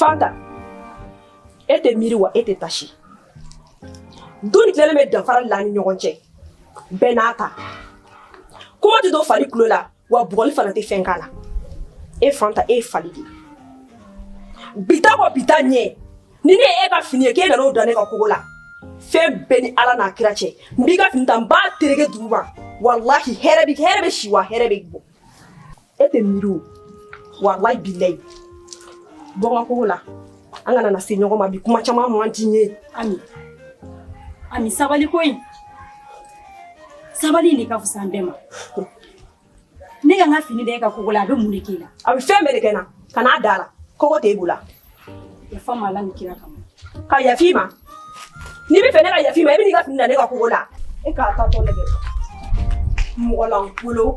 Fanta e tɛ miiri wa e tɛ taasi don ni tilalen bɛ dafara la ni ɲɔgɔn cɛ bɛɛ n'a ta kuma tɛ don fali tulo la wa bugɔli fana tɛ fɛn k'a la e Fanta e ye fali de bi ta kɔ bi ta ɲɛ ni ne ye e ka fini ye k'e nana o da ne ka kogo la fɛn bɛɛ ni ala n'a kira cɛ n b'i ka fini ta n b'a tereke dugu ma walahi hɛrɛ bɛ hɛrɛ bɛ si wa hɛrɛ bɛ bɔ e tɛ miiri o walahi bilayi bɔ n ka kogo la an kana na se ɲɔgɔn ma bi kuma caman man di n ye ami ami sabali ko in sabali in de ka fisa an bɛɛ ma ne ka n ka fini da e ka kogo la a bɛ mun de k'e la a bɛ fɛn bɛɛ de kɛ n na kan'a da a la kogo t'e bolo a yafa n ma ala ni kira kama ka yaf'i ma n'i b'a fɛ ne ka yaf'i ma i bɛ n'i ka fini da ne ka kogo la e k'a ta tɔ lajɛ mɔgɔ lankolon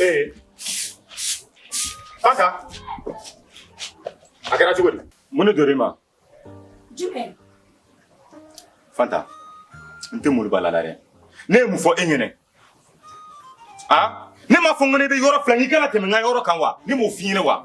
ee Fanta a kɛra cogo di mun de donna i ma jumɛn Fanta n tɛ mori bala la dɛ ne ye mun fɔ e ɲɛ na a ne m'a fɔ n ko n'e bɛ yɔrɔ filan k'i kana tɛmɛ n ka yɔrɔ kan wa ne m'o f'i ɲɛ na wa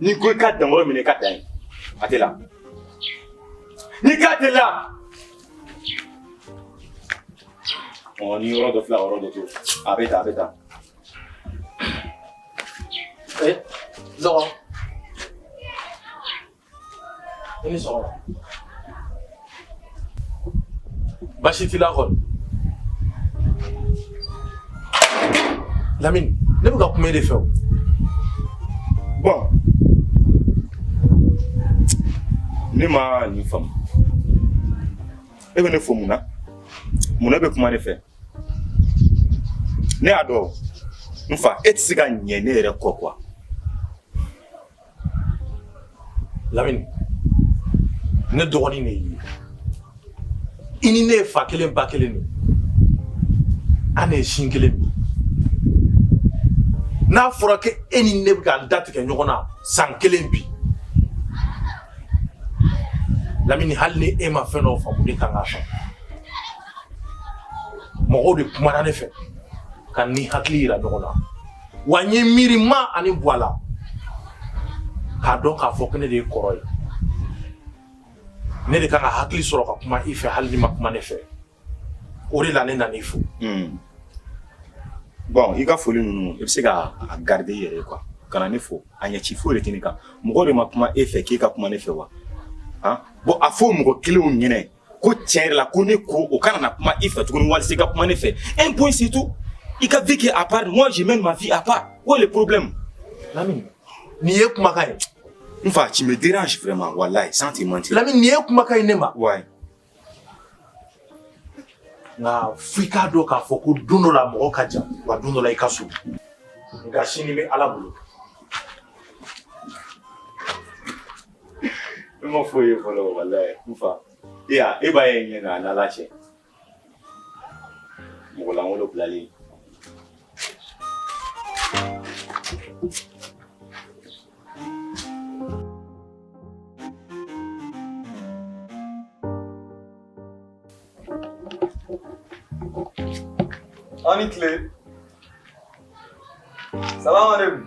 N'i ko i ka dagolo minɛ i ka dan ye a tɛ la n'i k'a tɛ la ɔ ni yɔrɔ dɔ filan yɔrɔ dɔ to a bɛ ta a bɛ ta ee eh, zɔgɔ i ni sɔgɔma basi t'i la kɔni lamini ne bɛ ka kuma e de fɛ o bɔn ne ma nin faamu e bɛ ne fo mun na mun na e bɛ kuma ne fɛ ne y'a dɔn n fa e tɛ se ka ɲɛ ne yɛrɛ kɔ kuwa Lamini ne dɔgɔnin de ye i ni ne ye fa kelen ba kelen de an ye sin kelen min n'a fɔra ko e ni ne bɛ ka da tigɛ ɲɔgɔn na san kelen bi lamini hali ni e ma fɛn dɔw faamu ne kan k'a faamu mɔgɔw de kumana ne fɛ ka ni hakili yira ɲɔgɔn na wa n ye miirina ani bɔ a la k'a dɔn k'a fɔ ko ne de ye kɔrɔ ye ne de kan ka hakili sɔrɔ ka kuma i fɛ hali n'i ma kuma ne fɛ o de la ne nana i fo hmm. bon i ka foli ninnu i bɛ se ka a garder i yɛrɛ ye quoi kana ne fo a ɲɛci foyi de tɛ ne kan mɔgɔ de ma kuma e fɛ k'e ka kuma ne fɛ wa bon a fɔ mɔgɔ kelenw ɲɛnɛ ko tiɲɛ yɛrɛ la ko ne ko o kana na kuma i fɛ tuguni walisa i ka kuma ne fɛ un point c'est tout i ka vie kɛ à part moi je mène ma vie à part où est le problème Lamine nin ye kumakan ye n fa tu me dérange vraiment wallahi sans te mentir Lamine nin ye kumakan ye ne ma ouais nka f'i k'a dɔn k'a fɔ ko don dɔ la mɔgɔ ka jan wa don dɔ la i ka surun nka sini bɛ ala bolo Ne ma foyi ye fɔlɔ walayi n fa. E ya e ba ye n ye nga a nana cɛ. Mɔgɔ lankolon bilalen. Aw ni kile. Salamalekum.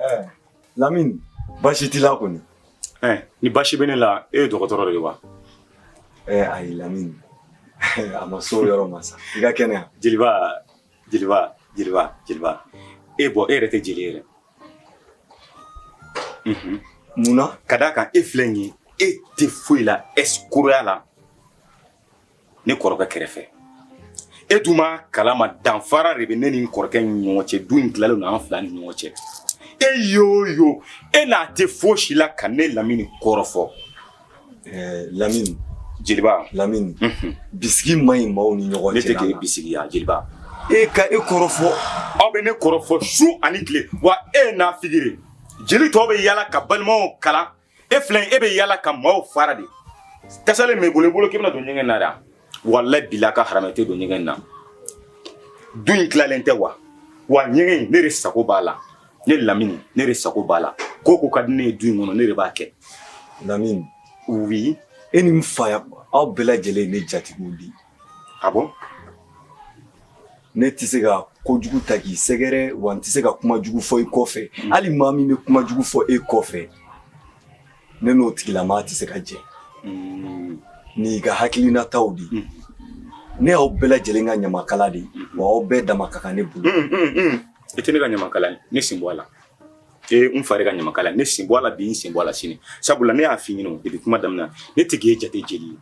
Eh, Lamini baasi t'i la kɔni. Eh, ni baasi bɛ ne la e ye dɔgɔtɔrɔ de ye wa? Eh, ayi Lamini a ma s'o yɔrɔ ma sa i ka kɛnɛya. Jeliba jeliba jeliba jeliba e bɔ e yɛrɛ tɛ jeli yɛrɛ. Mhm. Mun na? Ka d'a kan e filɛ nin ye e tɛ foyi la ɛsikoroya la. ne kɔrɔkɛ kɛrɛfɛ e dun b'a kala ma danfara de bɛ ne ni kɔrɔkɛ ni ɲɔgɔn cɛ du in tilalen don an fila ni ɲɔgɔn cɛ e y'o yo e n'a tɛ fosi la ka ne lamini kɔrɔfɔ eh, lamini jeliba lamini mhm. bisigi ma ɲi maaw ni ɲɔgɔn cɛ ne tɛ k'e bisigi ya jeliba e ka e kɔrɔfɔ aw bɛ ne kɔrɔfɔ su ani tile wa e nafigi de jeli tɔw bɛ yala ka balimaw kalan e filɛ e bɛ yala ka maaw fara de tasalen bɛ bolo i bolo k'i bɛna don ɲɛgɛn na dɛ wala bila ka haramu e tɛ don ɲɛgɛn na du in tilalen tɛ wa wa ɲɛgɛn in ne de sago b'a la ne lamini ne de sago b'a la ko o ko ka di ne ye du in kɔnɔ ne de b'a kɛ lamini oui e ni n fa aw bɛɛ lajɛlen ye ne jatigiw de ye ah bon Ne tɛ se ka kojugu ta k'i sɛgɛrɛ wa n tɛ se ka kuma jugu fɔ i kɔfɛ hali maa min bɛ kuma jugu fɔ e kɔfɛ ne n'o tigilamaa tɛ se ka jɛ nin y'i ka hakilinataw de ye ne y'aw bɛɛ lajɛlen ka ɲamakala de ye wa aw bɛɛ dama ka kan ne bolo i tɛ ne ka ɲamakala ye ne sen bɔ a la ee n fa de ka ɲamakala ye ne sen bɔ a la bi n sen bɔ a la sini sabula ne y'a fɔ i ɲɛna depuis kuma daminɛ na ne tɛ k'e jate jeli ye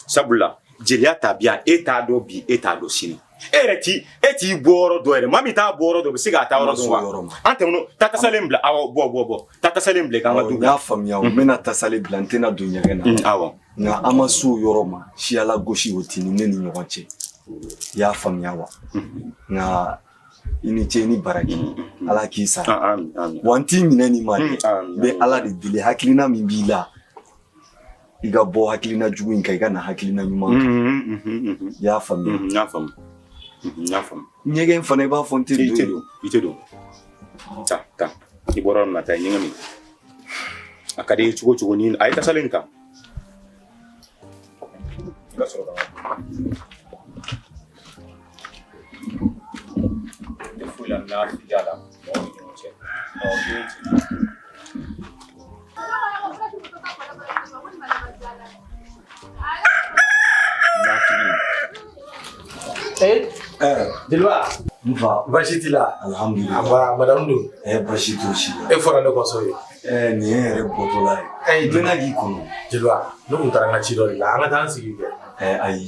sabula jeliya ta bi e t'a dɔn bi e t'a dɔn sini e yɛrɛ ti e t'i bɔ yɔrɔ dɔn yɛrɛ maa min t'a bɔ yɔrɔ dɔn bɛ se k'a taa yɔrɔ dɔn wa an tɛmɛn'o ta tasalen bila awɔ bɔ bɔ bɔ ta tasalen bila k'an ka du n y'a faamuya n bɛna tasalen bila n tɛna don ɲɛgɛn na awɔ nka an ma se o yɔrɔ ma siyala gosi o t'i ni ne ni ɲɔgɔn cɛ i y'a faamuya wa nka i ni ce ni baraji ala k'i sara wa n t'i minɛ ni ma dɛ n bɛ ala de deli hakilina min b'i la i ka bɔ hakilina jugu in kan i ka na hakilina ɲuman kan i y'a faamuya n y'a faamu n y'a faamu ɲɛgɛn fana i b'a fɔ n tɛ i tɛ don i tɛ don taa taa i bɔra yɔrɔ min na taa i ɲɛgɛn min a ka di i ye cogo cogo ni a ye tasalen in ta i ka sɔrɔ ka Fola n'a fili la jeliba basi t'a la madamu don basi t' si e fɔra ne kɔsɔ ye nin ye yɛrɛ bɔtɔla ye bɛna k'i kɔnɔ jeliba ne tun taara n ka ci dɔ de la an ka taa an sigi kɛ ayi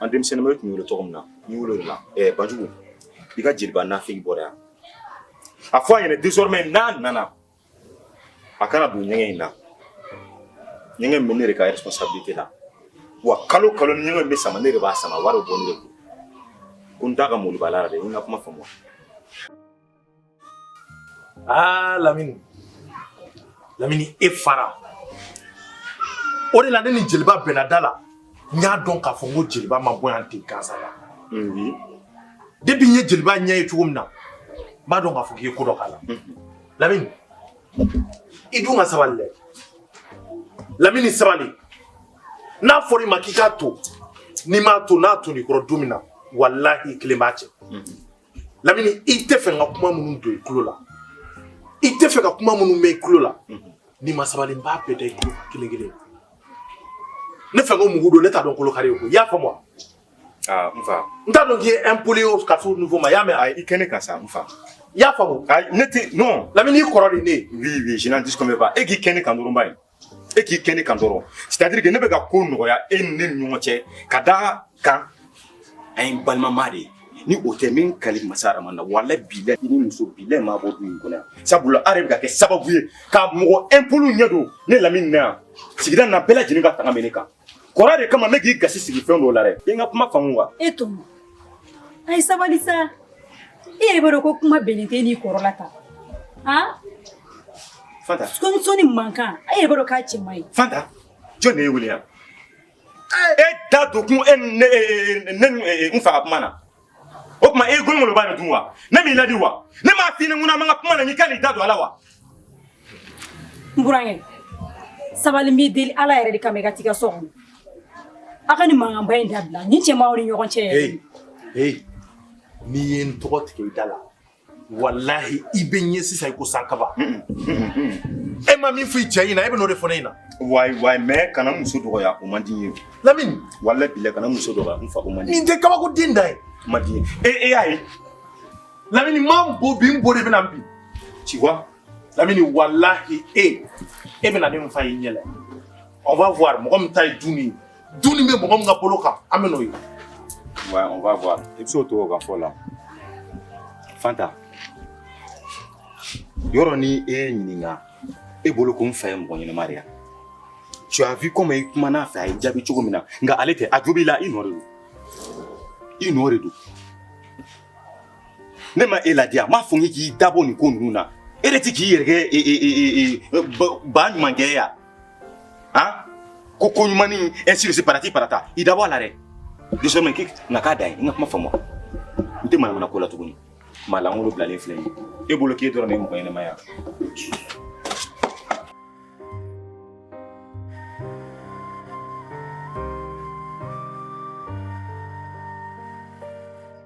An denmisɛnninw tun wele tɔgɔ min na n wolo la banjugu i ka jeliba nafigi bɔra yan a fɔ a yɛrɛ désormais n'a nana a kana don ɲɛgɛn in na ɲɛgɛn bɛ ne de ka responsabilité la wa kalo o kalo ni ɲɛgɛn bɛ sama ne de b'a sama wari bɔ ne kun da ka mobala de n ka kuma faamu Aa lamini lamini e fara o de la ne ni jeliba bɛnna da la n y'a dɔn k'a fɔ n ko jeliba ma bɔ yan ten gansan ya depuis n ye jeliba ɲɛ ye cogo min na n b'a dɔn k'a fɔ k'i ye ko dɔ k'a la lamini i dun ka sabali dɛ lamini sabali n'a fɔra i ma k'i k'a to n'i m'a to n'a tonn'i kɔrɔ don min na walahi i kelen b'a cɛ lamini i tɛ fɛ n ka kuma minnu don i tulo la i tɛ fɛ ka kuma minnu mɛn i tulo la n'i ma sabali n b'a bɛɛ da i tulo kelen kelen ne fɛ ko mugu don ne t'a dɔn kolo kari ye ko i y'a faamu wa ah, n fa n t'a dɔn k'i ye impoli ye ka s'o niveau ma i y'a mɛn ah, i kɛ ne kan sa n fa i y'a faamu ah, ne tɛ non lamini i kɔrɔ de ne ye oui oui je n'en disconviens pas e k'i kɛ ne kan dɔrɔn ba ye e k'i kɛ ne kan dɔrɔn c'est-à-dire que ne bɛ ka ko nɔgɔya e ni ne ni ɲɔgɔn cɛ ka d'a kan an ye balimama de ye ni o tɛ n bɛ n kali masa araman na wala bilahi ni muso bilen ma bɔ du in kɔnɔ yan sabula a yɛrɛ bɛ ka kɛ sababu ye ka mɔgɔ impoli ɲɛ don ne lamini na yan sigida na bɛɛ lajɛlen ka tanga bɛ ne kan Kɔrɔ de kama ne k'i gasi sigi fɛn dɔw la dɛ. I ye n ka kuma faamu wa? E Tɔmɔ, a ye sabali sa. I yɛrɛ b'a dɔn ko kuma bɛnnen tɛ e n'i kɔrɔla ta. Han! Fanta. Kɔɲɔmuso ni mankan, e yɛrɛ b'a dɔn k'a cɛ man ɲi. Fanta, jɔni de y'e wele yan? E da don kun e ni ne e e ne ni e e n fa ka kuma na. o tuma e golongolo b'a dun wa ne m'i ladi wa ne m'a f'i ɲɛna n ko n'an b'an ka kuma na n'i kan'i da don a la wa. n burankɛ sabali n b'i deli ala yɛrɛ de kama i ka t'i ka so kɔnɔ aw ka nin mankanba in dabila nin cɛ man ɲi ɲɔgɔn cɛ yɛrɛ. ee ee n'i ye n tɔgɔ tigɛ i da la walahi i bɛ ɲɛ sisan i ko san kaba e ma min fɔ i cɛ ɲɛna e bɛ n'o de fɔ ne ɲɛna wayi wayi mais kana muso dɔgɔya o man di n ye lamini walahi bilɛ kana muso dɔgɔya n fa o man di nin tɛ kabako den da ye o man di n ye e e y'a ye lamini ma n bo bi n bo de bɛna n bi ci wa lamini walahi e e bɛna ne n fa y'i ɲɛ la on va voir mɔgɔ min ta ye du in ye Du in bɛ mɔgɔ min ka bolo kan an bɛn'o ye wa on va voir i bɛ se o to o ka fɔ la Fanta yɔrɔ ni e ye ɲininka e bolo ko n fa ye mɔgɔ ɲɛnama de ye tu as vu comme i kuman'a fɛ a y'i jaabi cogo min na nka ale tɛ a jo b'i la i nɔ de don i nɔ de don ne ma e ladi wa n m'a fɔ n k'i dabɔ nin ko ninnu na e de tɛ k'i yɛrɛ kɛ ba ɲumankɛ ye wa ah ko ko ɲuman ni ainsi de suite patati patata i dabɔ a la dɛ désormais k'i na k'a dan ye n ka kuma faamu wa n tɛ manamana ko la tuguni maa lankolon bilalen filɛ nin ye e bolo k'e dɔrɔn de ye mɔgɔ ɲɛnama ye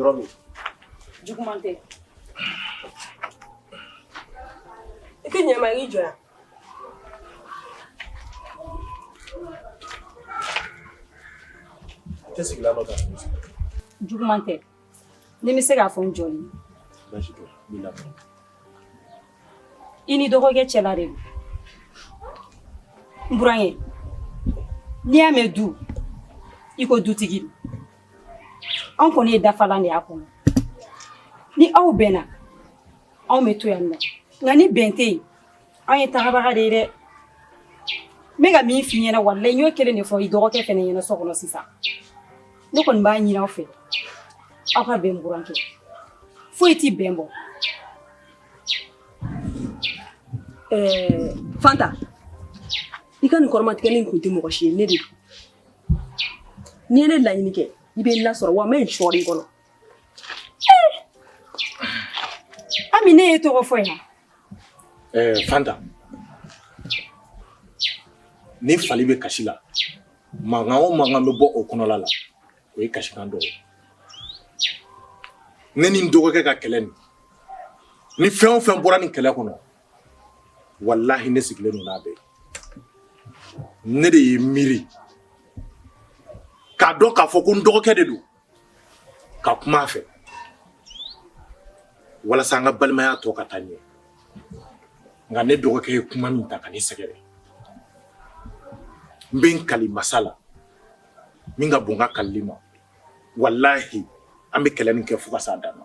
Dɔgɔ. Juguman tɛ. I tɛ ɲɛma i jɔ yan. Tɛ sigilan dɔ ta. Juguman tɛ. Ni n bɛ se k'a fɔ n jɔn ye i n'i dɔgɔkɛ cɛla de n buran ye n'i y'a mɛn du i ko dutigi anw kɔni ye dafalan de y'a kɔnɔ ni aw bɛnna anw bɛ to yan nɔ nka ni bɛn tɛ yen anw ye tagabaga de ye dɛ n bɛ ka min f'i ɲɛna walayi n y'o kelen de fɔ i dɔgɔkɛ fɛnɛ ɲɛna so kɔnɔ sisan ne kɔni b'a ɲini aw fɛ aw ka bɛn burankɛ foyi tɛ bɛn bɔ fanta i ka nin kɔrɔmatigɛli in kun tɛ mɔgɔ si ye ne de don n'i ye ne laɲini kɛ i bɛ n lasɔrɔ wa n bɛ n sɔɔri i kɔnɔ Ami ne ye tɔgɔ fɔ yan Fanta ni fali bɛ kasi la mankan o mankan bɛ bɔ o kɔnɔla la o ye kasikan dɔ ye ne ni n dɔgɔkɛ ka kɛlɛ nin ni fɛn o fɛn bɔra nin kɛlɛ kɔnɔ walahi ne sigilen ninnu bɛ ne de ye miiri k'a dɔn k'a fɔ ko n dɔgɔkɛ de don ka kuma a fɛ walasa an ka balimaya tɔ ka taa ɲɛ nka ne dɔgɔkɛ ye kuma min ta ka ne sɛgɛrɛ n bɛ n kali masa la min ka bon n ka kalili ma walahi an bɛ kɛlɛ nin kɛ fo ka s'a dan na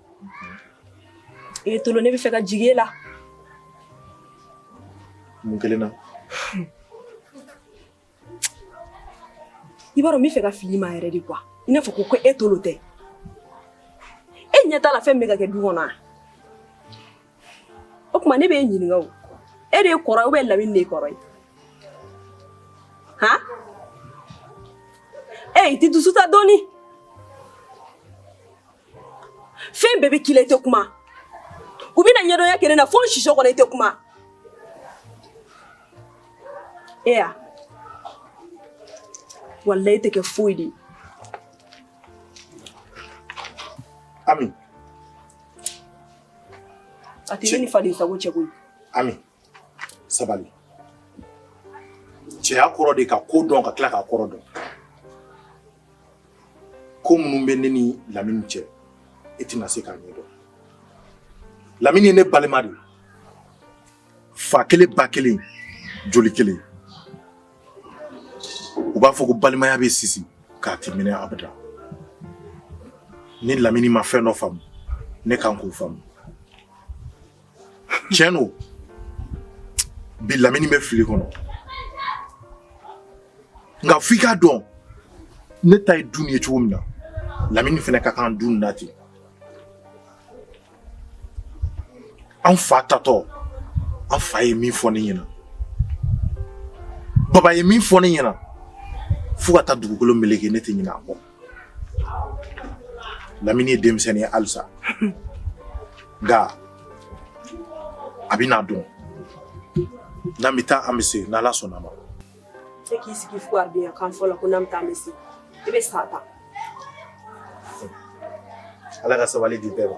E tolo ne bɛ fɛ ka jigi e la mun kelen na i b'a dɔn n bɛ fɛ ka fili i ma yɛrɛ de kuwa i n'a fɔ ko ko e tolo tɛ e ɲɛ t'a la fɛn bɛ ka kɛ du kɔnɔ o tuma ne bɛ e ɲininka o e de ye kɔrɔ ubiyɛn lamini de ye kɔrɔ ye han e i tɛ dusu ta dɔɔnin fɛn bɛɛ bɛ k'i la i tɛ kuma u bɛna ɲɛdɔnya kɛ ne na fo n siso kɔnɔ i tɛ kuma e ya walayi i tɛ kɛ foyi de ye ami a tɛ ne ni faden sago cɛ koyi ami sabali cɛya kɔrɔ de ka ko dɔn ka tila k'a kɔrɔ dɔn ko minnu bɛ ne ni lamini cɛ i tɛna se k'a ɲɛdɔn lamini ye ne balima de fa kelen ba kelen joli kelen u b'a fɔ ko balimaya bɛ sisi nka a tɛ mɛnɛ abada ni lamini ma fɛn dɔ faamu ne kan k'o faamu tiɲɛ don bi lamini bɛ fili kɔnɔ nka f'i k'a dɔn ne ta ye du nin ye cogo min na lamini fana ka kan du nin na ten an fa taatɔ an fa ye min fɔ ne ɲɛna baba ye min fɔ ne ɲɛna fo ka taa dugukolo meleke ne tɛ ɲinɛ a kɔ Lamini ye denmisɛnnin ye halisa nka a bɛn'a dɔn n'an bɛ taa an bɛ se n'ala sɔnna ma e k'i sigi fo a bɛn kan fɔlɔ ko n'an bɛ taa an bɛ se i bɛ sa ta ala ka sabali di bɛɛ ma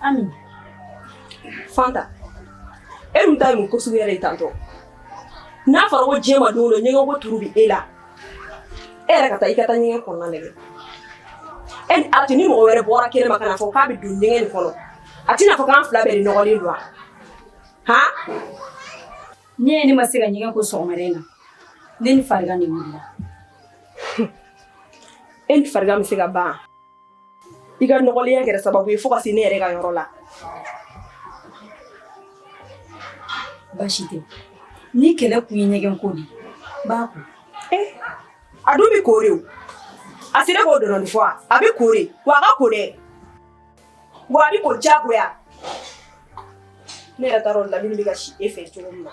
Ami Fanta e dun ta ye mun ko sugu yɛrɛ ye tan tɔ n'a fɔra ko diɲɛ ma don o don ɲɛgɛn ko turu bɛ e la e yɛrɛ ka taa i ka taa ɲɛgɛn kɔnɔna lajɛ e ni a tɛ ni mɔgɔ wɛrɛ bɔra kɛnɛ ma ka na fɔ k'a bɛ don ɲɛgɛn nin kɔnɔ a tɛna fɔ k'an fila bɛɛ de nɔgɔlen don wa han ne ye ne ma se ka ɲɛgɛn ko sɔgɔmada in na ne ni farigan de wulila e ni farigan bɛ se ka ban i ka nɔgɔlenya kɛra sababu ye fo ka se ne yɛrɛ ka yɔrɔ la baasi tɛ ni kɛlɛ kun ye ɲɛgɛn ko de n b'a ko eh, a dun bɛ ko dɛ o a sera k'o dɔrɔn fɔ a bɛ ko dɛ wa a ka ko dɛ wa a bɛ ko diyagoya ne yɛrɛ taara o lamini bɛ ka si e fɛ cogo min na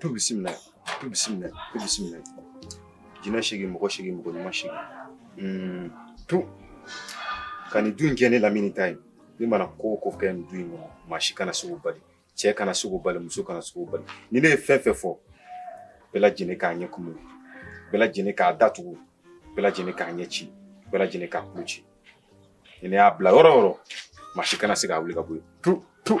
Tu bisimila tu bisimila tu bisimila jinɛ segin mɔgɔ segin mɔgɔ ɲuman segin hmm, to ka nin du in kɛ ne lamini ta ye ne mana ko ko kɛ nin du in kɔnɔ maa si kana se k'o bali cɛ kana se k'o bali muso kana se k'o bali ni ne ye fɛn fɛn fɔ bɛɛ lajɛlen k'a ɲɛ kumu bɛɛ lajɛlen k'a datugu bɛɛ lajɛlen k'a ɲɛ ci bɛɛ lajɛlen k'a kulo ci ni ne y'a bila yɔrɔ yɔrɔ maa si kana se k'a wuli ka bɔ yen tu tu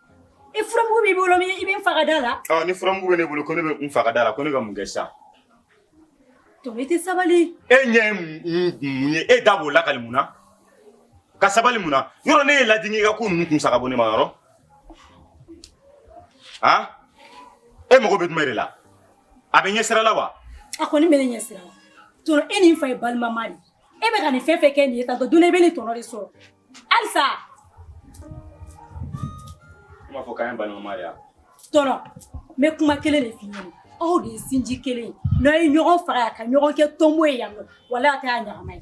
I furamugu b'i bolo min i bɛ n fa ka da la? Ɔ ni furamugu bɛ ne bolo ko ne bɛ i fa ka da la ko ne ka mun kɛ sa? Tɔkɛ i tɛ sabali. E ɲɛ ye mun ye e da b'o lakali mun na? Ka sabali mun na? Yɔrɔ ne ye lajigin i ka ko ninnu kun saga bɔ ne ma yɔrɔ? Han? E mago bɛ jumɛn de la? A bɛ ɲɛ sira la wa? A kɔni bɛ ne ɲɛ sira la. Tɔntɔn e ni n fa ye balimama de ye. E bɛ ka nin fɛn fɛn kɛ nin ye tan tɔ don dɔ i bɛ nin tɔnɔ de sɔrɔ. Halisa. Kuma fɔ k'an ye balima de ye wa? Tɔntɔn, n bɛ kuma kelen de f'i ɲɛna, aw de ye sinji kelen ye, n'aw ye ɲɔgɔn faga yan, ka ɲɔgɔn kɛ tonbo ye yan nɔ, walahi a tɛ kɛ ɲɛnama ye.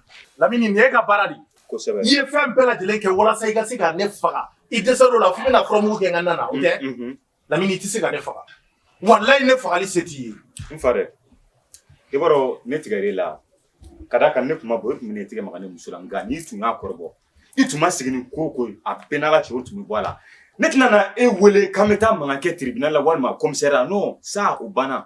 Lamini nin y'i ka baara de i ye fɛn bɛɛ lajɛlen kɛ walasa i ka se ka ne faga i dɛsɛ dɔ la fo bɛna furamugu kɛ n ka da la o tɛ lamini i tɛ se ka ne faga walayi ne fagali se t'i ye n fa dɛ i b'a dɔn ne tigɛ e la ka da ka ne kuma bɔ e tun ne tigɛ ma ne muso la nka n'i tun y'a kɔrɔbɔ i tun ma segin ko ko a bɛn n' ka cɛw tun bɛ bɔ a la ne tɛna e wele k'an bɛ taa mankan kɛ tiribina la walima kɔmisariya n'o sa o banna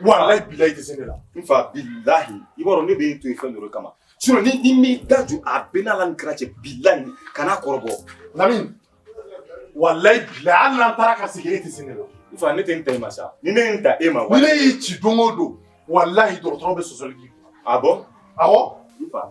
walayi bilayi i tɛ se ne la n fa bilayi i b'a dɔn ne bɛ e to yen fɛn dɔ de kama sinɔn n'i m'i da jɔ a bɛ n'Ala ni kira cɛ bilayi kana n kɔrɔbɔ lamini walayi bilayi hali n'an taara ka segin e tɛ se ne la n fa ne tɛ n ta e ma sa ni ne ye n ta e ma ni ne y'i ci don o don walayi dɔgɔtɔrɔ bɛ sɔsɔli k'i kun a bɔ awɔ n fa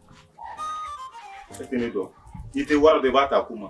E tɛ ne dɔn i tɛ wari de b'a ta kun ma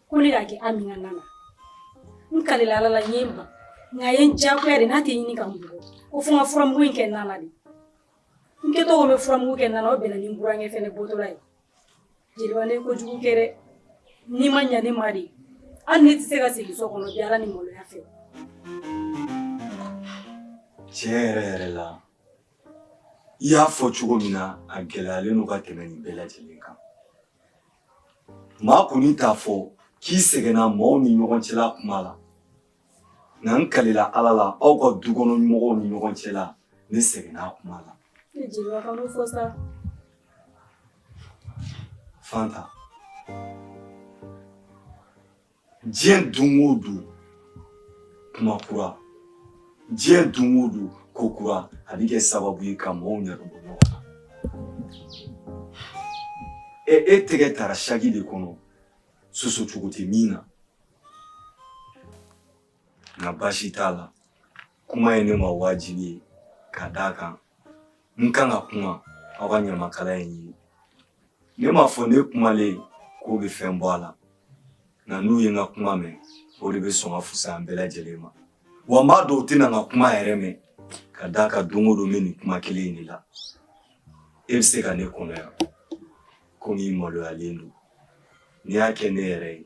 ko ne k'a kɛ Amina na la n kalila Ala la n ye n ban nka a ye n diyagoya de n'a tɛ ɲini ka n bugɔ ko fo n ka furamugu in kɛ na la de n kɛtɔ ko n bɛ furamugu kɛ na la o bɛnna ni n burankɛ fana bɔtɔla ye jeliba ne ye kojugu kɛ dɛ n'i ma ɲa ne ma de hali ne tɛ se ka segin so kɔnɔ bi Ala ni maloya fɛ tiɲɛ yɛrɛ yɛrɛ la i y'a fɔ cogo min na a gɛlɛyalen don ka tɛmɛ nin bɛɛ lajɛlen kan Maa kɔni t'a fɔ k'i sɛgɛnna maaw ni ɲɔgɔn cɛla kuma la nka n kalila ala la aw ka du kɔnɔ mɔgɔw ni ɲɔgɔn cɛla ne sɛgɛnna kuma la fanta diɲɛ don o don kuma kura diɲɛ don o don ko kura a bɛ kɛ sababu ye ka mɔgɔw ɲɛdɔn bɔ ɲɔgɔn na ɛ e tɛgɛ tara saki de kɔnɔ sɔsɔ cogo tɛ min na nka baasi t'a la kuma ye ne ma wajibi ye ka d'a kan n kan ka kuma aw ka ɲamakala ye n ye ne m'a fɔ ne kumalen k'o bɛ fɛn bɔ a la nka n'u ye n ka kuma mɛn o de bɛ sɔn ka fusa an bɛɛ lajɛlen ma wa n b'a dɔn u tɛna n ka kuma yɛrɛ mɛn ka d'a kan don o don n bɛ nin kuma kelen in de la e bɛ se ka ne kɔnɔ yan komi i maloyalen don n'i y'a kɛ ne yɛrɛ ye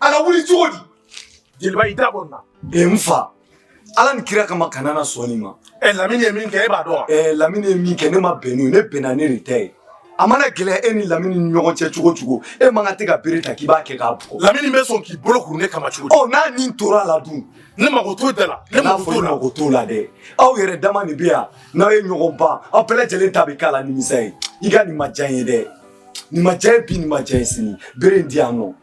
a ka wuli cogo di jeliba i da bɔ n na e n fa ala ni kira kama kana na sɔn nin ma ɛ lamini ye min kɛ e b'a dɔn wa ɛ lamini ye min kɛ ne ma bɛn n'o ye ne bɛnna n'e de ta ye a mana gɛlɛya e ni lamini ni ɲɔgɔn cɛ cogo o cogo e man kan dɛ ka bere ta k'i b'a kɛ k'a bugɔ lamini bɛ sɔn k'i bolo kuru ne kama cogo di ɔ n'a ni tora a la dun ne mago t'o da la ne n'a mago fɔ t'o ne la mago t'o la dɛ aw yɛrɛ dama de bɛ yan n'aw ye ɲɔgɔn ban aw bɛɛ lajɛlen ta bɛ k'a la nimisa ye i ka nin ma diya n ye dɛ nin ma diya n ye bi nin ma diya n ye sini bere in di yan nɔ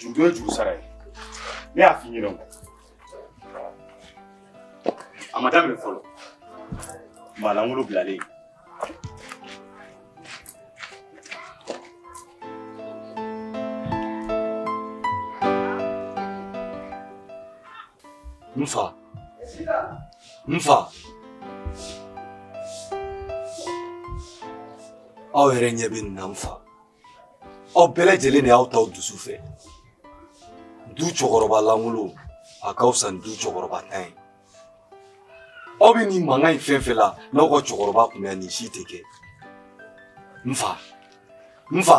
juru ye juru sara ye ne y'a f'i ɲɛna a ma daminɛ fɔlɔ maa lankolon bilalen n fa n fa aw yɛrɛ ɲɛ bɛ nin na n fa aw bɛɛ lajɛlen de y'aw taw dusu fɛ du cɛkɔrɔba lankolon a ka fisa ni du cɛkɔrɔbantan ye aw bɛ nin mankan in fɛn fɛn la n'aw ka cɛkɔrɔba kun bɛ yan nin si tɛ kɛ n fa n fa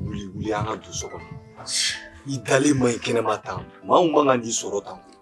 wuli wuli an ka don so kɔnɔ i dalen man ɲi kɛnɛma tan maa min man kan k'i sɔrɔ tan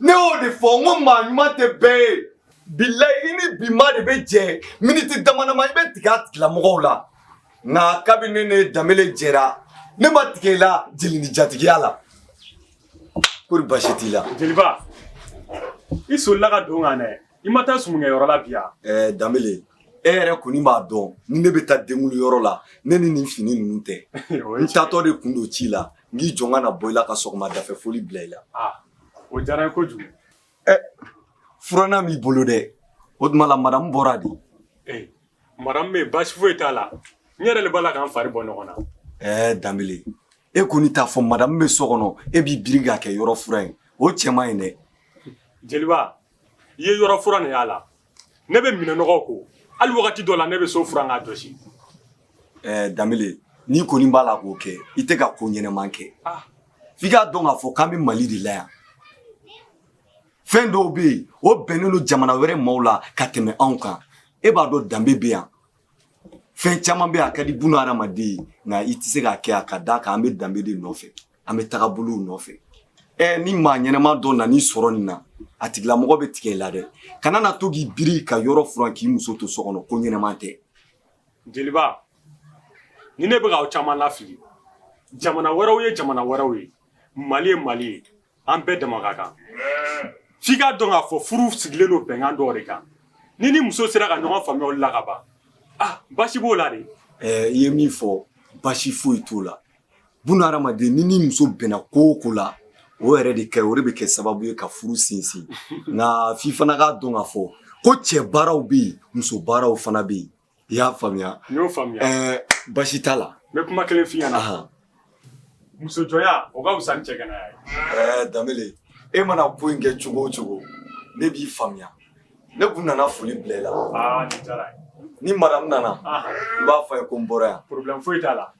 ne y'o de fɔ n ko maa ɲuman tɛ bɛɛ ye bilayi i ni bi maa de bɛ jɛ miniti damadama i bɛ tigɛ a tigilamɔgɔw la nka kabini ne ni danbele jɛra ne ma tigɛ i la jeli ni jatigiya la kori basi t'i la jeliba i solila ka don n kan dɛ I ma taa sumu kɛ yɔrɔ la bi yan ɛɛ danbele e yɛrɛ kɔni b'a dɔn ni ne bɛ taa denkundi yɔrɔ la ne ni nin fini ninnu tɛ n taatɔ de tun don ci la n k'i jɔ n ka na bɔ i la ka sɔgɔma dafɛ foli bila i la o diyara ko kojugu ɛ furanan b'i bolo dɛ o tuma la madamu bɔra de ee madamu bɛ baasi foyi t'a la n yɛrɛ de b'a la ka n fari bɔ ɲɔgɔn na ɛɛ danbele e kɔni t'a fɔ madamu bɛ so kɔnɔ e b'i biri k'a kɛ yɔrɔ furan ye o cɛ man ɲi dɛ jeliba i ye yɔrɔ furanni y'a la ne bɛ minɛn nɔgɔw ko hali wagati dɔ la ne bɛ so furan k'a jɔsi eh, danbele n'i kɔni b'a la k'o kɛ i tɛ ka ko ɲɛnama kɛ ah. f'i k'a dɔn k'a fɔ k'an bɛ mali de la yan fɛn dɔw bɛ yen o bɛnnen don jamana wɛrɛ maaw la ka tɛmɛ anw kan e b'a dɔn danbe bɛ yan fɛn caman bɛ a ka di buna hadamaden ye nka i tɛ se k'a kɛ a ka d'a kan an bɛ danbe de nɔfɛ an bɛ tagabolow nɔfɛ ɛ ni maa ɲɛnama dɔ nan'i sɔrɔ nin na a tigilamɔgɔ bɛ tigɛ i la dɛ kana n'a to k'i biri ka yɔrɔ furan k'i muso to so kɔnɔ ko ɲɛnama tɛ jeliba nin de bɛ k'aw caman lafili jamana wɛrɛw ye jamana wɛrɛw ye mali ye mali ye an bɛɛ dama ka kan f'i k'a dɔn k'a fɔ furu sigilen don bɛnkan dɔw de kan n'i n'i muso sera ka ɲɔgɔn faamuya olu la ka ban ah basi b'o la de ɛɛ i ye min fɔ basi foyi t'o la buna hadamaden n'i n'i muso bɛnna ko o ko la o yɛrɛ de kɛ o de bɛ kɛ sababu ye ka furu sinsin nka f'i fana k'a dɔn k'a fɔ ko cɛ baaraw bɛ yen muso baaraw fana bɛ yen i y'a faamuya n y'o faamuya ɛɛ basi t'a la n bɛ kuma kelen f'i ɲɛna ahan muso jɔnya o ka fisa ni cɛganaya ye ɛɛ danbele e mana ko in kɛ cogo o cogo ne b'i faamuya ne kun nana foli bila i la aa nin diyara n ye ni madamu nana ahan i b'a fɔ a ye ko n bɔra yan problème foyi t'a la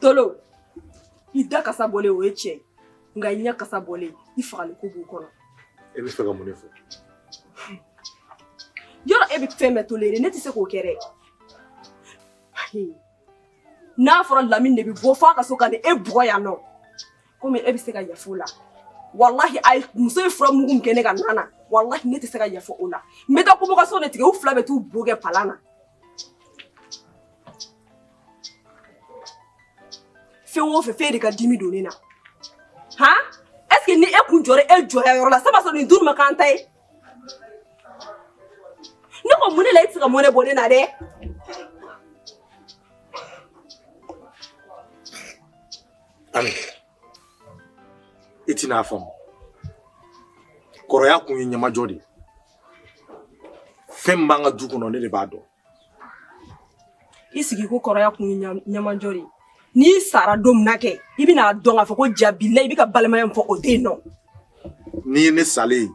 tolo i da kasa bɔlen o ye tiɲɛ nka i ɲɛ kasa bɔlen i fagali ko b'o kɔnɔ e b'a fɛ ka mun de fɔ yɔrɔ e bɛ fɛn bɛɛ tolérer ne tɛ se k'o kɛ dɛ n'a fɔra lamini de bɛ bɔ f'a ka so ka na e bugɔ yan nɔ komi e bɛ se ka yafa o la walahi a muso ye fura mugu min kɛ ne ka nan na walahi ne tɛ se ka yafa o la n bɛ taa convocation de tigɛ u fila bɛ t'u bo kɛ palan na Fɛn o fɛn fɛn de ka dimi don ne na han est ce que ni e kun jɔra e jɔya yɔrɔ la saba sɔrɔ nin dun ma k'an ta ye ne ko mun de la e tɛ se ka mɔnɛ bɔ ne na dɛ Ami, i tɛna a faamu. Kɔrɔya kun ye ɲamajɔ de ye. fɛn min b'an ka du kɔnɔ ne de b'a dɔn i sigi ko kɔrɔya kun ye ɲamajɔ de ye n'i sara don min na kɛ i bɛna a dɔn k'a fɔ ko jabila i bɛ ka balimaya min fɔ o tɛ yen nɔ n'i ye ne salen ye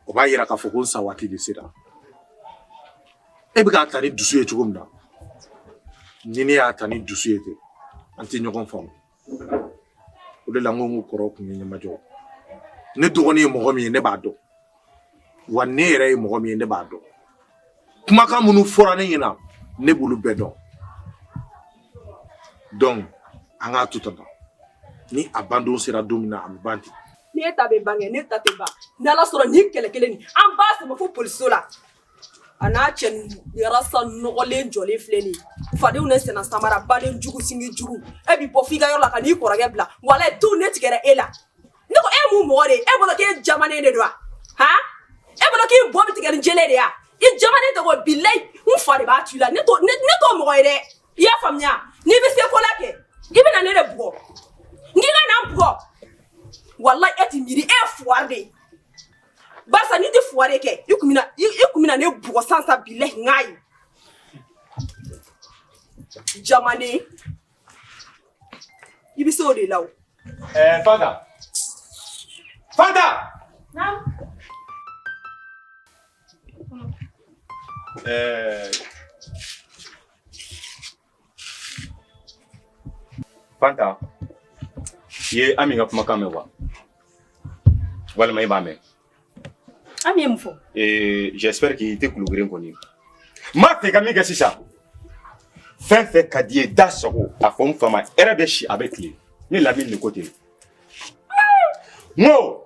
o b'a yira k'a fɔ ko n sa waati de sera e bɛ k'a ta ni dusu ye cogo min na ni ne y'a ta ni dusu ye ten an tɛ ɲɔgɔn faamu o de la n ko n ko kɔrɔ kun ye ɲɛmajɔ ne dɔgɔnin ye mɔgɔ min ye ne b'a dɔn wa ne yɛrɛ ye mɔgɔ min ye ne b'a dɔn kumakan minnu fɔra ne ɲɛna ne b'olu bɛɛ dɔn donc an k'a to tan ni a bandon sera don min na a bɛ ban ten ne ta bɛ ban kɛ ne ta tɛ ban n'ala sɔnna nin kɛlɛ kelen nin an b'a sama fo polisiso la A n'a cɛ sa nɔgɔlen jɔlen filɛ de fadenw ne sen samara baden jugu sinji jugu e bɛ bɔ' i ka yɔrɔ la ka'i kɔrɔkɛ bila wa to ne tigɛ e la e mun mɔgɔ de e bolo e jamanen de don h e bolo k'i bɔ tigɛ ni jɛ de yan i jamanen tɔgɔ bila n fa de b'a ci la ne to mɔgɔ ye dɛ i y'a faamuya n'i bɛ se ko la kɛ i bɛna ne de bugɔ n bugɔ wala e tɛ miiri e fugari de Barisa n'i tɛ fugari kɛ i tun bɛna i i tun bɛna ne bugɔ sisan sisan bilahi n k'a ye jamanen i bɛ se o de la o. Ɛɛ Fanta Fanta. Naamu. Ɛɛ. Fanta i ye Ami ka kumakan mɛn wa walima i m'a mɛn Ami ye mun fɔ ee j'espère que i tɛ tulogeren kɔni ye n b'a fɛ ka min kɛ sisan fɛn fɛn ka di i ye da sago a fɔ n fa ma hɛrɛ bɛ si a bɛ tilen ne Lamini de ko ten n ko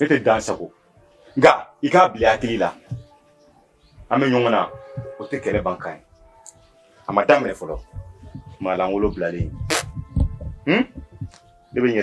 ne tɛ dan sagon nka i k'a bila i hakili la an bɛ ɲɔgɔn na o tɛ kɛlɛ ban kan ye a ma daminɛ fɔlɔ maa lankolon bilalen hmm? ne bɛ ɲɛ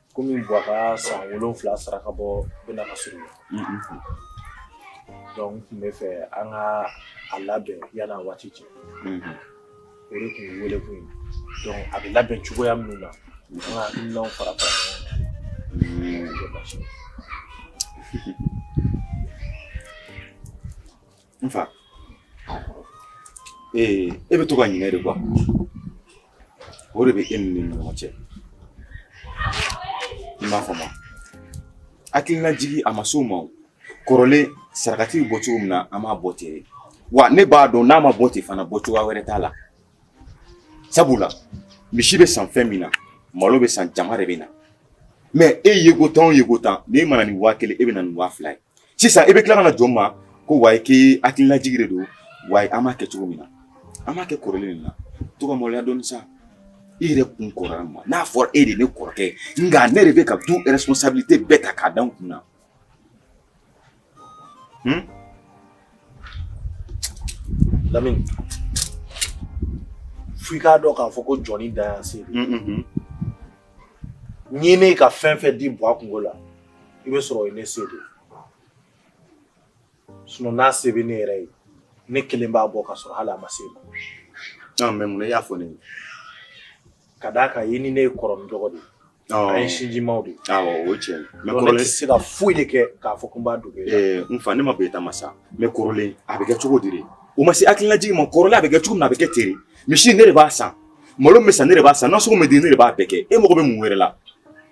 Kɔmi buwa ka san wolonwula saraka bɔ bɛ na ka surunya donc n tun b'a fɛ an ka a labɛn yanni waati cɛ o de tun wele kun a bɛ labɛn cogoya min na an fara N fa ee e bɛ to ka ɲinɛ de quoi o de bɛ e ni ne ɲɔgɔn cɛ i m'a fɔ ma hakilinajigi a ma se o ma kɔrɔlen sarakati bɔ cogo min na an b'a bɔ ten wa ne b'a dɔn n'a ma bɔ ten fana bɔ cogoya wɛrɛ t'a la sabula misi bɛ san fɛn min na malo bɛ san jama de bɛ na mɛ e yeko tan o yeko tan n'i ma na ni waa kelen e bɛ na ni waa fila ye sisan i bɛ tila ka na jɔ n ma ko wa i ka hakililajigi de don wa an b'a kɛ cogo min na an b'a kɛ kɔrɔlen de la to ka maloya dɔɔni sa i yɛrɛ kun kɔrɔya ma n'a fɔra e de ne kɔrɔkɛ nka ne de bɛ ka du responsabilité bɛɛ ta k'a da n kun na hmm? Lamini f'i k'a dɔn k'a fɔ ko jɔnnin dan y'a se ye ne ka fɛn fɛn di buwa kunko la i b'a sɔrɔ ne se de sun n'a se bɛ ne yɛrɛ ye ne kelen b'a bɔ ka sɔrɔ hali a ma se e ma mɛ mun i y'a fɔ ne ka d'a kan i ni ne ye kɔrɔ dɔgɔ de an ye sinjimaw de o cɛ ne se ka foyi de kɛ k'a fɔ tun b'a dugu n fa ne ma bɛ e ta ma sa mɛ kɔrɔlen a bɛ kɛ cogo di o ma se hakililajigi ma kɔrɔlen a bɛ kɛ cogo min a bɛ kɛ ten de misi ne de b'a san malo bɛ san ne de b'a san nasɔngɔ bɛ di ne de b'a bɛɛ kɛ e mago bɛ mun wɛrɛ la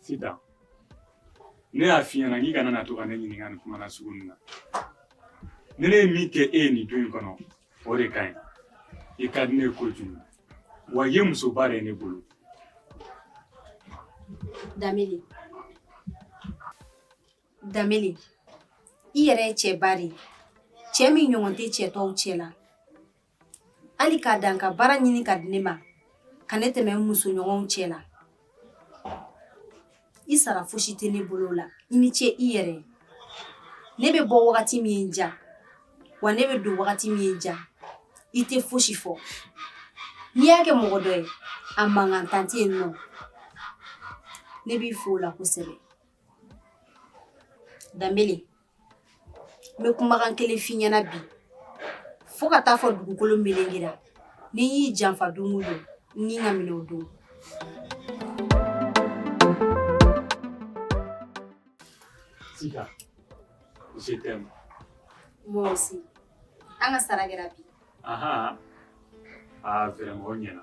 Sitan, ne y'a f'i ɲɛna k'i kana na to ka ne ɲininka nin kuma nasugu nin na. Ni ne ye min kɛ e ye nin du in kɔnɔ, o de ka ɲi. I ka di ne ye kojugu. Wa i ye musoba de ye ne bolo. Danbele, Danbele, i yɛrɛ ye cɛba de ye, cɛ min ɲɔgɔn tɛ cɛ tɔw cɛla. hali k'a dan ka baara ɲini k'a di ne ma ka ne tɛmɛ n musoɲɔgɔnw cɛ la i sara fosi tɛ ne bolo la i ni ce i yɛrɛ ne bɛ bɔ wagati min ja wa ne bɛ don wagati min ja i tɛ fosi fɔ n'i y'a kɛ mɔgɔ dɔ ye a mankan tan tɛ yen nɔ ne b'i fo o la kosɛbɛ danbele n bɛ kumakan kelen f'i ɲɛna bi fo ka taa fɔ dugukolo melengera ni n y'i janfa don o don n ni ka minɛ o don Sika, je t'aime. Moi aussi. An ka sara kɛra bi. Aha. Ah, vraiment, o ɲɛna.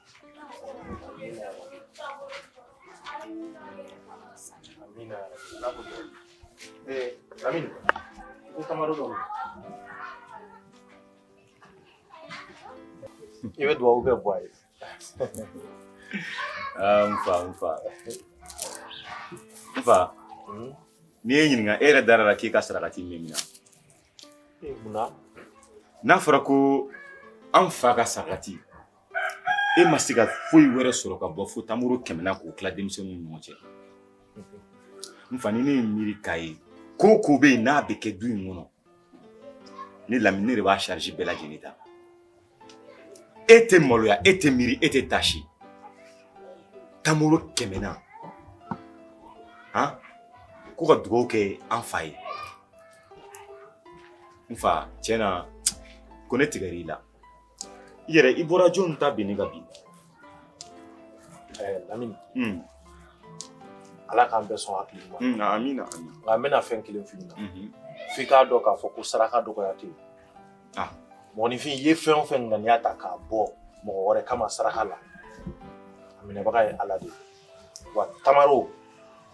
iwe dwa uga bwayo n fa n fa n fa ne b'i ɲininka e yɛrɛ dara a la k'i ka sarakati minɛna n'a fɔra ko an fa ka sarakati e ma se ka foyi wɛrɛ sɔrɔ ka bɔ fo tamaro kɛmɛ na k'o tila denmisɛnninw ni ɲɔgɔn cɛ n fa ni ne ye miiri k'a ye ko o ko bɛ yen n'a bɛ kɛ du in kɔnɔ ne lamini ne de b'a sarisi bɛɛ lajɛlen ta e tɛ maloya e tɛ miiri e tɛ taasi tamaro kɛmɛ na han ko ka dugawu kɛ an fa ye n fa tiɲɛ na ko ne tigɛr'i la yɛrɛ i bɔra jɔnni ta binni ka bin lamini ala k'an bɛɛ sɔn hakili la amina nka n bɛna fɛn kelen f'i ɲɛna f'i k'a dɔn k'a fɔ ko saraka dɔgɔya tɛ yen ah. mɔgɔninfin ye fɛn o fɛn ŋaniya ta k'a bɔ mɔgɔ wɛrɛ kama saraka la a minɛbaga ye ala de ye wa tamaro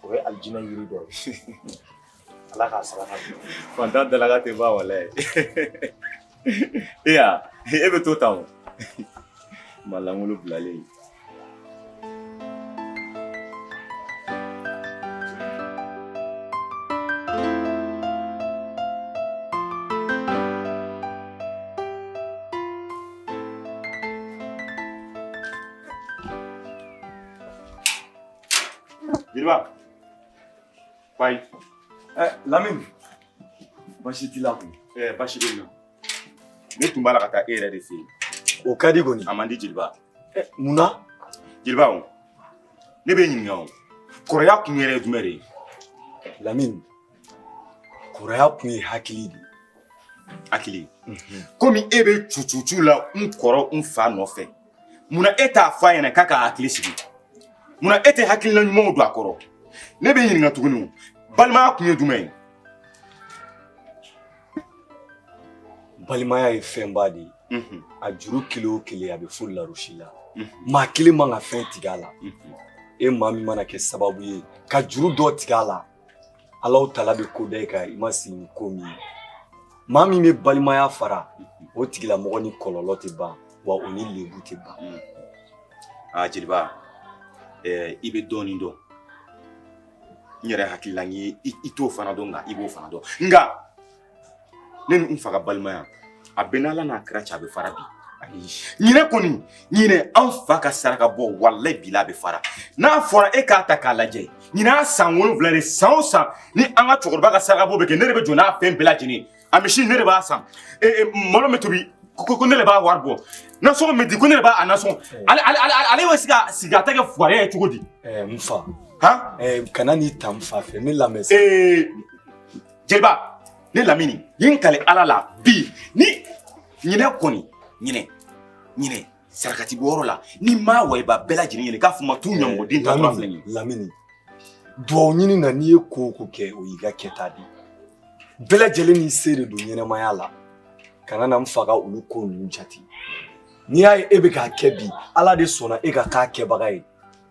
o ye alijinɛ yiri dɔ ye Ala k'a saraka di. Faantan dalakan tɛ ban walayi. E ya e bɛ to tan o. Maa lankolon bilalen. Jeliba. Bye. Eh, Lamine. Baasi t'i la kun. Eh, baasi bɛ yen nɔ. Ne tun b'a la ka taa e yɛrɛ de fɛ yen. O ka di kɔni. A man di jeliba. Eh, mun na? Jeliba o. Ne b'i ɲininka o. Kɔrɔya kun yɛrɛ ye jumɛn de ye? Lamine. Kɔrɔya kun ye hakili de ye. Hakili. Komi e bɛ cucucu la n kɔrɔ n fa nɔfɛ. munna e t'a fɔ a ɲɛna k'a ka hakili sigi munna e tɛ hakilina ɲumanw don a kɔrɔ ne b'i ɲininka tuguni o balimaya kun ye jumɛn ye balimaya ye fɛnba de ye mhm. a juru kelen o kelen a bɛ fo larosi la mhm. maa kelen man ka fɛn tigɛ a la mhm. e maa min mana kɛ sababu ye ka juru dɔ tigɛ a la Alaw tala bɛ ko da i kan i ma sigi ni ko min ye maa min bɛ balimaya fara o tigilamɔgɔ ni kɔlɔlɔ tɛ ban wa o ni lebu tɛ ban. Mm. aa jeliba ɛɛ i bɛ dɔɔnin dɔn n yɛrɛ hakilinan ye i t'o fana dɔn nka i b'o fana dɔn nka. ne ni n fa ka balimaya a bɛ n'ala n'a kira cɛ a bɛ fara bi ɲinɛ kɔni ɲinɛ an fa ka saraka bɔ walayi bila a bɛ fara n'a fɔra e k'a ta k'a lajɛ ɲinɛ a san wolonwula de san o san ni an ka cɛkɔrɔba ka saraka bɔ bɛ kɛ ne de bɛ jɔ n'a fɛn bɛɛ lajɛlen a misi ne de b'a san malo bɛ tobi ko ne de b'a wari bɔ nasɔngɔ bɛ di ko ne de b'a nasɔngɔ ale bɛ se ka sigi a ta kɛ fugari ye cogo di n fa kana n'i ta n fa fɛ ne lamɛn sa jeliba ne lamini ye n kali ala la bi ni ɲinɛ kɔni ɲinɛ ɲinɛ sarakati bɔyɔrɔ la ni n ma waliba bɛɛ lajɛlen wele k'a fɔ u ma t'u ɲamɔgɔden ta tura filɛ lamini duwawu ɲini na n'i ye ko o ko kɛ o y'i ka kɛta de bɛɛ lajɛlen n'i se de don ɲɛnamaya la kana na n fa ka olu ko ninnu jate n'i y'a ye e bɛ k'a kɛ bi ala de sɔnna e ka k'a kɛbaga ye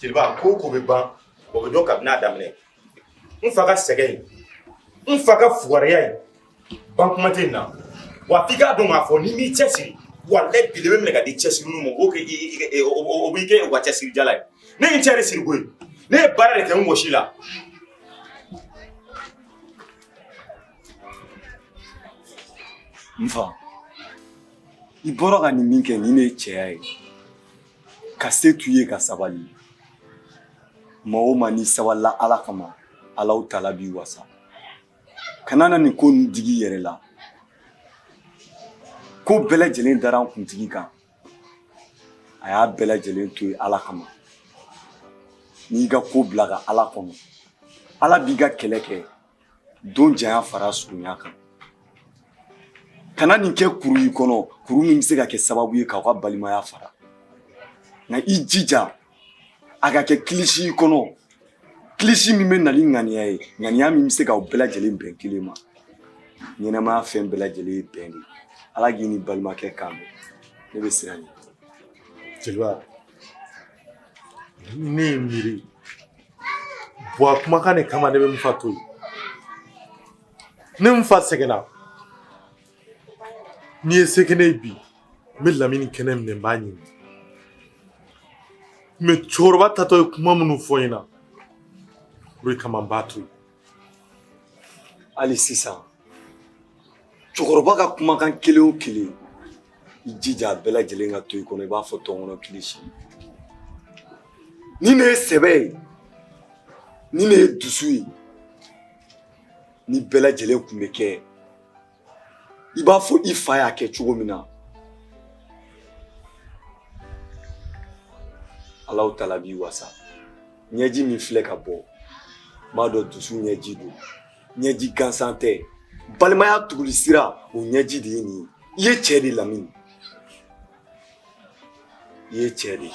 jeliba ko o ko bɛ ban o bɛ dɔn kabini a daminɛ n fa ka sɛgɛn ye n fa ka fugariya ye ban kuma tɛ na wa f'i k'a dɔn k'a fɔ n'i m'i cɛsiri walayi bilayi i bɛ minɛ ka di cɛsirilenw ma o kɛ o b'i kɛ u ka cɛsirijala ye ne ye n cɛ de siri koyi ne ye baara de kɛ n wɔsi la n fa i bɔra ka nin min kɛ nin de ye cɛya ye ka se t'u ye ka sabali maa o maa n'i sabalila ala kama alaw tala b'i wasa kana na nin ko ninnu digi i yɛrɛ la ko bɛɛ lajɛlen dara an kuntigi kan a y'a bɛɛ lajɛlen to yen ala kama n'i ka ko bila ka ala kɔnɔ ala b'i ka kɛlɛ kɛ don janya fara surunya kan kana nin kɛ kuru y'i kɔnɔ kuru min bɛ se ka kɛ sababu ye k'aw ka balimaya fara nka i jija a ka kɛ kilisi y'i kɔnɔ kilisi min bɛ na ni ŋaniya ye ŋaniya min bɛ se k'aw bɛɛ lajɛlen bɛn kelen ma ɲɛnamaya fɛn bɛɛ lajɛlen ye bɛn de ye ala k'i ni balimakɛ kan bɛn ne bɛ siran i ɲɛ jeliba Ne ye miiri buwa kumakan de kama ne bɛ nfa to yen ne nfa sɛgɛnna n'i ye se kɛ ne ye bi n bɛ lamini kɛnɛ minɛ n b'a ɲimi mɛ cɛkɔrɔba taatɔ ye kuma minnu fɔ n ɲɛna o de kama n b'a to yen hali sisan cɛkɔrɔba ka kumakan kelen o kelen i jija a bɛɛ lajɛlen ka to i kɔnɔ i b'a fɔ tɔnkɔnɔ kilisi ni ne ye sɛbɛ ye ni ne ye dusu ye ni bɛɛ lajɛlen kun bɛ kɛ i b'a fɔ i fa y'a kɛ cogo min na Alahu tala b'i wasa ɲɛji min filɛ ka bɔ m'a dɔn dusu ɲɛji don ɲɛji gansan tɛ balimaya tuguli sira o ɲɛji de ye nin ye i ye cɛɛ de lamini i ye cɛɛ de ye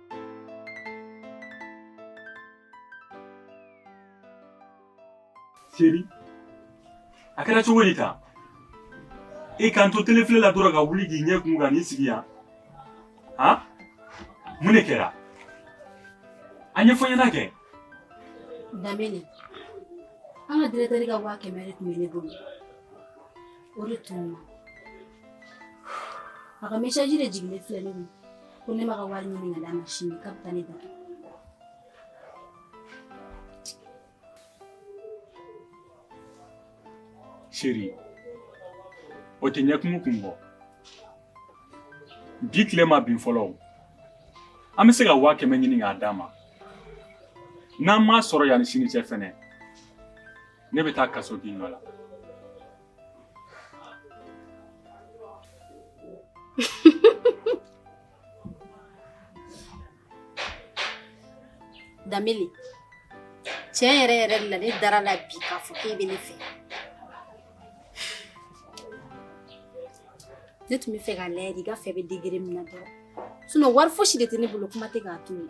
Chéri a kɛra cogo di ta i k'an to tele filɛ la dɔrɔn ka wuli k'i ɲɛ kumu ka n'i sigi yan han mun de kɛra a ɲɛfɔ n ɲɛna kɛ damini an ka diretɛri ka waa kɛmɛ de tun bɛ ne bolo o de tun a ka mesaji de jiginnen filɛ ne kun ko ne ma ka wari ɲini ka d'a ma sini k'a bɛ taa ne da chéri o tɛ ɲɛkumu kun bɔ bi tile ma bin fɔlɔ o an bɛ se ka waa kɛmɛ ɲini k'a d'a ma n'an m'a sɔrɔ yanni sini cɛ fɛnɛ ne bɛ taa kasobon dɔ la Danbele tiɲɛ yɛrɛ yɛrɛ la ne dara a la bi k'a fɔ k'e bɛ ne fɛ ne tun bɛ fɛ k'a lajɛ de i ka fɛ bɛ degere min na dɔrɔn sinon wari fosi de tɛ ne bolo kuma tɛ k'a tunun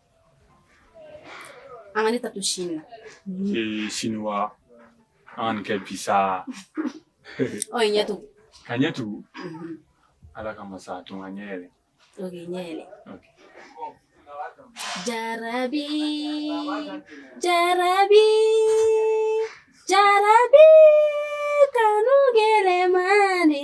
An ka ne ta to sini na. Ee sini wa an k'a kɛ bi sa. Ɔ i ɲɛ tugu. Ka n ɲɛ tugu. Ala kama sa a to n ka n ɲɛ yɛlɛ. Ok ɲɛ yɛlɛ. Ok. Jarabi jarabi jarabi kanu gɛlɛman de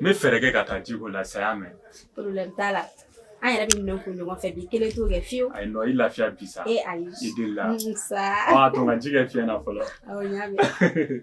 n bɛ fɛɛrɛ kɛ ka taa ji ko la sa i y'a mɛn problème t'a la an yɛrɛ bɛ minɛn ko ɲɔgɔn fɛ bi kelen t'o kɛ fiyewu ayi nɔ i lafiya bi sa e ayi i delila Mm, sa ɔ a to n ka ji kɛ fiɲɛ na fɔlɔ awɔ n y'a mɛn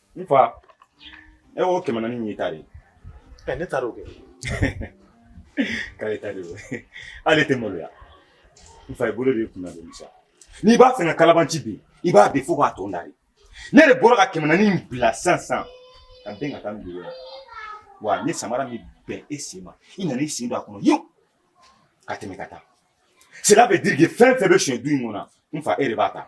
N fa e o kɛmɛ naani nin ta de ye ne taara o kɛ k'ale ta de ale tɛ maloya n fa i bolo de kun sa n'i b'a fɛ ka kalabanci bi i b'a bi fo k'a tɔn da ne de bɔra ka kɛmɛ naani bila san san ka den ka taa dugu wa ni samara min bɛn e sen ma i nana i sen don a kɔnɔ yen ka tɛmɛ ka taa sira fɛ di fɛn fɛn bɛ son du in kɔnɔ n fa e de b'a ta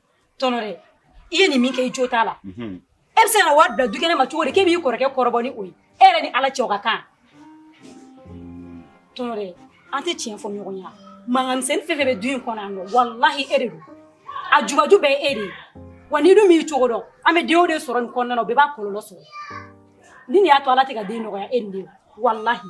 tɔnɔre i ye nin min kɛ i jo t'a la e bɛ se ka wari bila du kɛnɛ ma cogo di k'e b'i kɔrɔkɛ kɔrɔbɔ ni o ye e yɛrɛ ni ala cɛ ka kan tɔnɔre an tɛ tiɲɛ fɔ ɲɔgɔn ye mankanmisɛnnin fɛn fɛn bɛ du in kɔnɔ yan nɔ walahi e de don a jubaju bɛɛ ye e de ye wa n'i dun m'i cogo dɔn an bɛ denw de sɔrɔ nin kɔnɔna na o bɛɛ b'a kɔlɔlɔ sɔrɔ ni nin y'a to ala tɛ ka den nɔgɔya e ni de walahi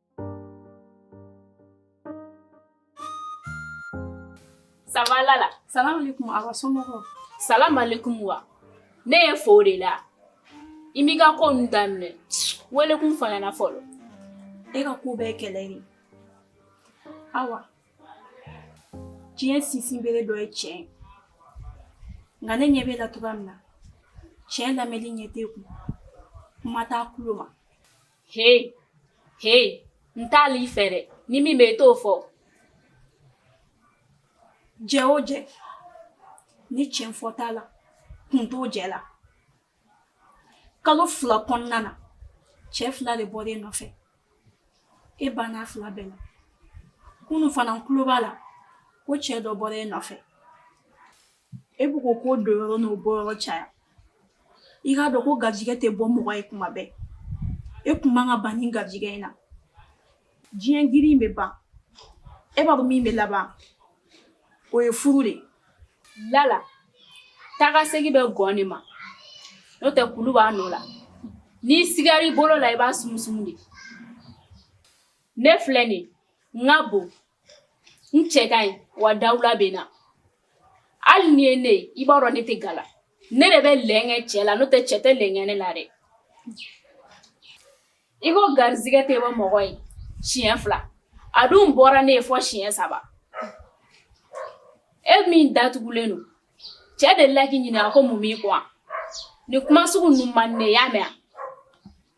Sabalala salamu alekun a somɔgɔw salamu alekun wa ne ye fo de la i b'i ka ko ninnu daminɛ welekun fɔ n ɲɛ na fɔlɔ e ka ko bɛɛ kɛlɛ de awa diɲɛ sinsin bere dɔ ye tiɲɛ ye nka ne ɲɛ b'e la cogoya min na tiɲɛ lamɛnni ɲɛ t'e kun kuma t'a tulo ma he he n t'ale i fɛ dɛ ni min bɛ i t'o fɔ jɛ o jɛ ni tiɲɛ fɔ t'a la kun t'o jɛ la kalo fila kɔnɔna na cɛ fila de bɔra e nɔfɛ e bann'a fila bɛɛ la kunu fana n tulo b'a la ko cɛ dɔ bɔra e nɔfɛ E bɛ ko ko don yɔrɔ n'o bɔ yɔrɔ caya i k'a dɔn ko garijɛgɛ tɛ bɔ mɔgɔ ye kuma bɛɛ e tun man kan ka ban nin garijɛgɛ in na diɲɛ girin bɛ ban e b'a dɔn min bɛ laban o ye furu de lala taa ka segin bɛ gɔn de ma n'o tɛ kulu b'a nɔ la n'i sigara i bolo la i b'a sumusumu de ne filɛ dɛ n ka bon n cɛ ka ɲi wa dawula bɛ n na hali n'i ye ne ye i b'a dɔn ne tɛ gala ne de bɛ lɛnkɛ cɛ la n'o tɛ cɛ tɛ lɛnkɛ ne la dɛ i ko garizigɛ tɛ bɔ mɔgɔ ye siɲɛ fila a dun bɔra ne ye fɔ siɲɛ saba e min datugulen don cɛ de la k'i ɲininka ko mun b'i kɔ nin kuma sugu ninnu man di ne ye i y'a mɛn wa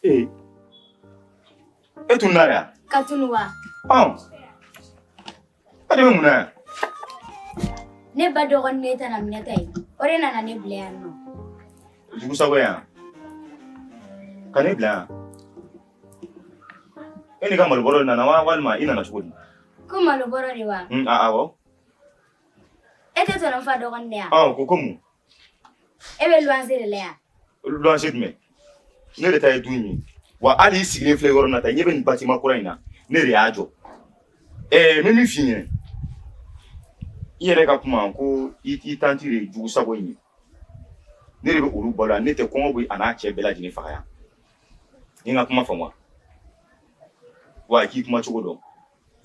Ee e tun na yan ka tunu wa e de bɛ mun na yan ne ba dɔgɔnin ne tɛnɛ Minata ye o de nana ne bila yan nɔ jugusago yan ka ne bila yan e n'i ka malobɔrɔ de nana wa walima i nana cogo di ko malobɔrɔ de wa awɔ e tɛ tɔnɔ fa dɔgɔnin de ye wa ko ko mun e bɛ luwanse de la yan luwanse jumɛn ne de ta ye du in ye wa hali i sigilen filɛ yɔrɔ na ta ɲɛ bɛ nin batima kura in na ne de y'a jɔ ɛɛ n bɛ min f'i ɲɛna i yɛrɛ ka kuma ko i i tanti de ye jugu sago ye ne de bɛ olu balo yan ne tɛ kɔngɔ bɛ a n'a cɛ bɛɛ lajɛlen faga yan i ka kuma faamu wa k'i kuma cogo dɔn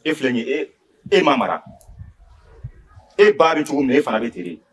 e filɛ nin ye e e ma mara e ba bɛ cogo min na e fana bɛ ten de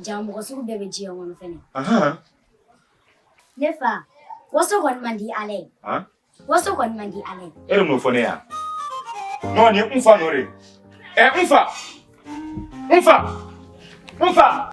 Ja mɔgɔ sugu bɛɛ bɛ diɲɛ kɔnɔ fɛnɛ. Ahan. Ne fa, waso kɔni man di Ala ye. Han? Waso kɔni man di Ala ye. E de m'o fɔ ne ye a? Non nin ye n fa nɔ de ye. Ɛ n fa! N fa! N fa!